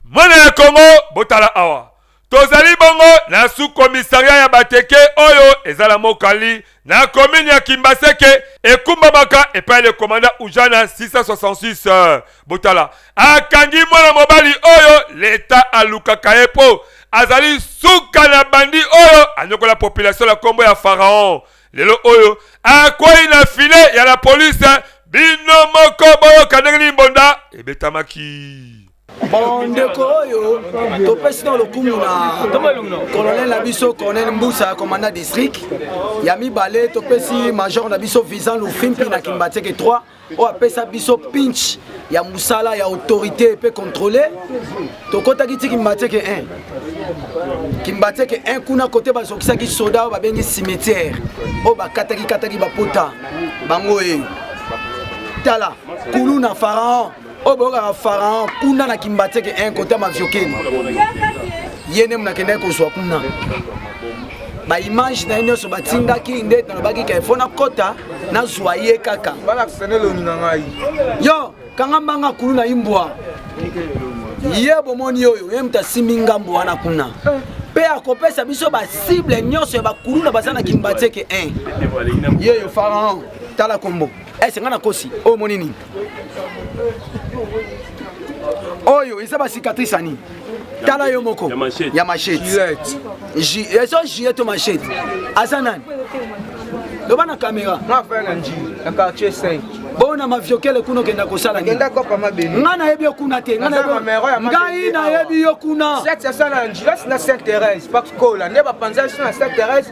mwana ya kongo botala awa tozali bongo na sukomisaria ya bateke oyo eza na mokali na komini ya kimbaseke ekumbamaka epai ya lekomanda ujana 666 botala akangi mwana mobali oyo leta alukaka ye mpo azali suka na bandi oyo anyokola population na nkombo ya faraon lelo oyo akwei na file ya la polise bino moko boyoka ndenge nini mbonda ebetamaki bon ndeko oyo topesi na lokumu na colonel na biso colonel mbusa commandant district ya mibale topesi major na biso visan lufimpi na kimbateke 3 oyo apesa biso pinch ya mosala ya autorité mpe contrôle tokotaki ti kimbateke 1 kimbateke 1 kuna kote bazokisaki soda oyo babengi cimetière oyo bakataki kataki bapota bango eyo tala kuluna pharaon oyo boyokaka pharaon kuna na kimbateke un kote ya maviokeni ye nde monakendaki kozwa kuna baimage na ye nyonso batindaki nde nalobaki ke fo nakɔta nazwa ye kaka yo kanga mbanga kulu na imbwa ye bomoni oyo ye moto asimbi ngambo wana kuna mpe akopesa biso basible nyonso ya bakuluna baza na kimbateke 1 yeyo faraon tala kombo ese eh, ngai nakosi oyo moni nini oyo eza ba cicatrice ya nini tala yo moko ya machete ezo jie to machete aza nani loba na kamera bona maviokele kuna okenda kosala ngai nayebi yo kuna te ngai nayebi yo kuna nde bapanzaki so na saint thérèse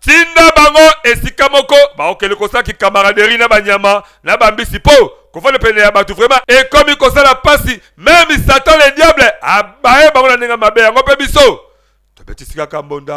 Tinda bango esika moko baokeli kosala kikamaraderi na banyama na bambisi mpo kofanda pene ya bato vrema ekomi kosala mpasi. Meme Satan le Diable abaye bango na ndenge ya mabe, yango mpe biso tobetisi kaka mbonda.